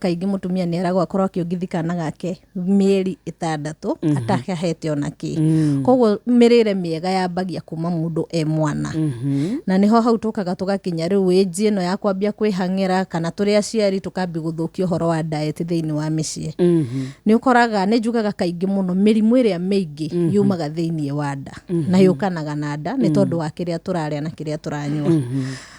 kaingĩ mũtumia nĩ aragwo akorwo akĩongithia kana gake mĩeri ĩtandatũ mm -hmm. atahete ona kĩ mm -hmm. koguo mĩrĩre mĩega yambagia kuma mũndũ e mwana mm -hmm. na nĩho hau tũkaga tũgakinya rĩu ĩnji ĩno ya kwambia kwĩhang'ĩra kana tũrĩ aciari tũkambi gũthũkia ũhoro wa diet thĩinĩ wa mĩciĩ mm -hmm. nĩ ũkoraga nĩ njugaga kaingĩ mũno mĩrimũ ĩrĩa mĩingĩ mm -hmm. yumaga thĩinĩ wa nda mm -hmm. na yũkanaga na nda nĩ mhm. tondũ wa kĩrĩa tũrarĩa na kĩrĩa tũranyua mm -hmm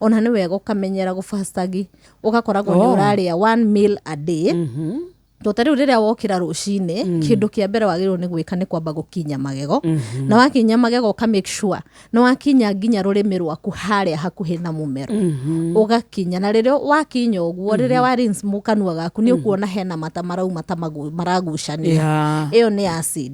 ona nĩ wega ũkamenyera gũbacagi ũgakoragwo nĩ Oh. ũrarĩa one meal a day to ta rĩu rĩrĩa wokĩra rũcinĩ kĩndũ kĩa mbere wagĩrĩirwo nĩ gwĩka nĩ kwamba gũkinya magego na wakinya magego ũka make sure nĩ wakinya nginya rũrĩmĩ rwaku harĩa hakuhĩ na mũmero ũgakinya na rĩrĩa wakinya ũguo rĩrĩa wa rinse mu kanua gaku nĩ ũkuona hena mata marauma ta magu- maragucania Yeah. ĩyo nĩ acid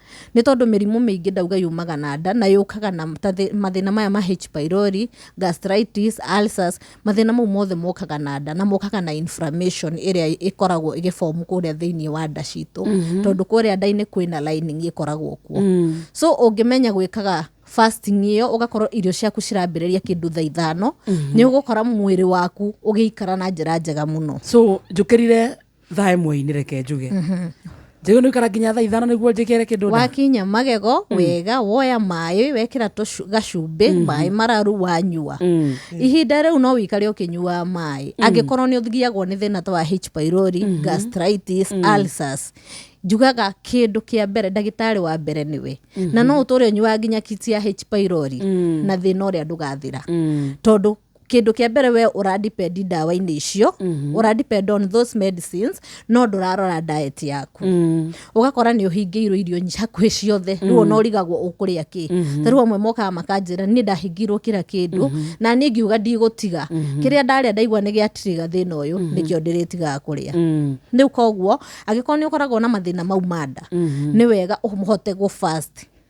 Nĩ tondũ mĩrimũ mĩingĩ ndauga yumaga na nda, na yũkaga na ta thĩ- mathĩna maya ma H. pylori, gastritis, ulcers, mathĩna mau mothe mokaga na nda, na mokaga na inflammation ĩrĩa ĩkoragwo ĩgĩ form kũrĩa thĩiniĩ wa nda citũ, tondũ kũrĩa nda-inĩ kwĩna lining ĩkoragwo kuo. So ũngĩmenya gwĩkaga fasting ĩyo, ũgakorwo irio ciaku cirambĩrĩria kĩndũ thaa ithano, nĩ ũgũkora mwĩrĩ waku ũgĩikara na njĩra njega mũno. so njũkĩrire thaa ĩmwe inĩ reke njuge njagĩrĩirwo nĩ gũikara nginya thaa ithano nĩguo njĩkĩre kĩndũ nda wakinya magego wega woya maĩ wekĩra tũcu- gacumbĩ maĩ mararu wanyua Mm. ihinda rĩu no wĩikare ũkĩnyuaga maĩ angĩkorwo nĩ ũthiagwo nĩ thĩna ta wa H. pylori gastritis ulcers njugaga kĩndũ kĩa mbere ndagĩtarĩ wa mbere nĩwe na no ũtũre ũnyuaga nginya kiti ya H. pylori na thĩna ũrĩa ndũgathira Mm. tondũ kĩndũ kĩa mbere we ũra depend ndawa-inĩ icio mm-hmm. ũra depend on those medicines no ndũrarora diet yaku mm. ũgakora nĩ ũhingĩirwo irio nyi- hakuhĩ ciothe rĩu ona ũrigagwo ũkũrĩa kĩ mm-hmm. tarĩu amwe mokaga makanjĩra nĩ ndahingĩirwo kĩra kĩndũ mm-hmm. na niĩ ngiuga ndigũtiga mm-hmm. kĩrĩa ndarĩa ndaigua nĩ gĩatirĩga thĩna ũyũ mm-hmm. nĩkĩo ndĩrĩtigaga kũrĩa mm. rĩu koguo angĩkorwo nĩ ũkoragwo na mathĩna mau ma nda nĩ wega ũhote gũ fast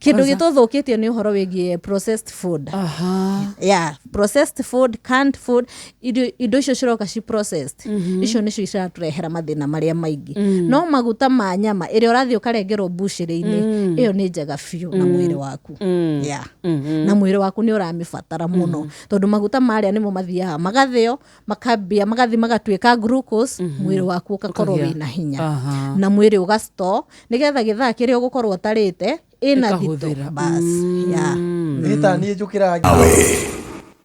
kĩndå gä tå thå kä tie nä å horo wä giä processed food Aha. yeah, processed food canned food irio indo icio ciroka ci processed icio nĩcio ciratũrehera mathĩna marĩa maingĩ no maguta ma nyama ĩrĩa ũrathiĩ ũkarengerwo mbucĩrĩ-inĩ ĩyo nĩ njega biũ na mwĩrĩ waku yeah. na mwĩrĩ waku nĩ ũramĩbatara mũno tondũ maguta marĩa nĩmo mathiaga magathĩo makambia magathi magatuĩka glucose mm -hmm. mwĩrĩ waku ũgakorwo wĩ na hinya uh -huh. na mwĩrĩ ũgasto nĩgetha gĩthaa kĩrĩa ũgũkorwo ũtarĩte ĩna thito bas mm. yeah. mm. niĩ njũkĩra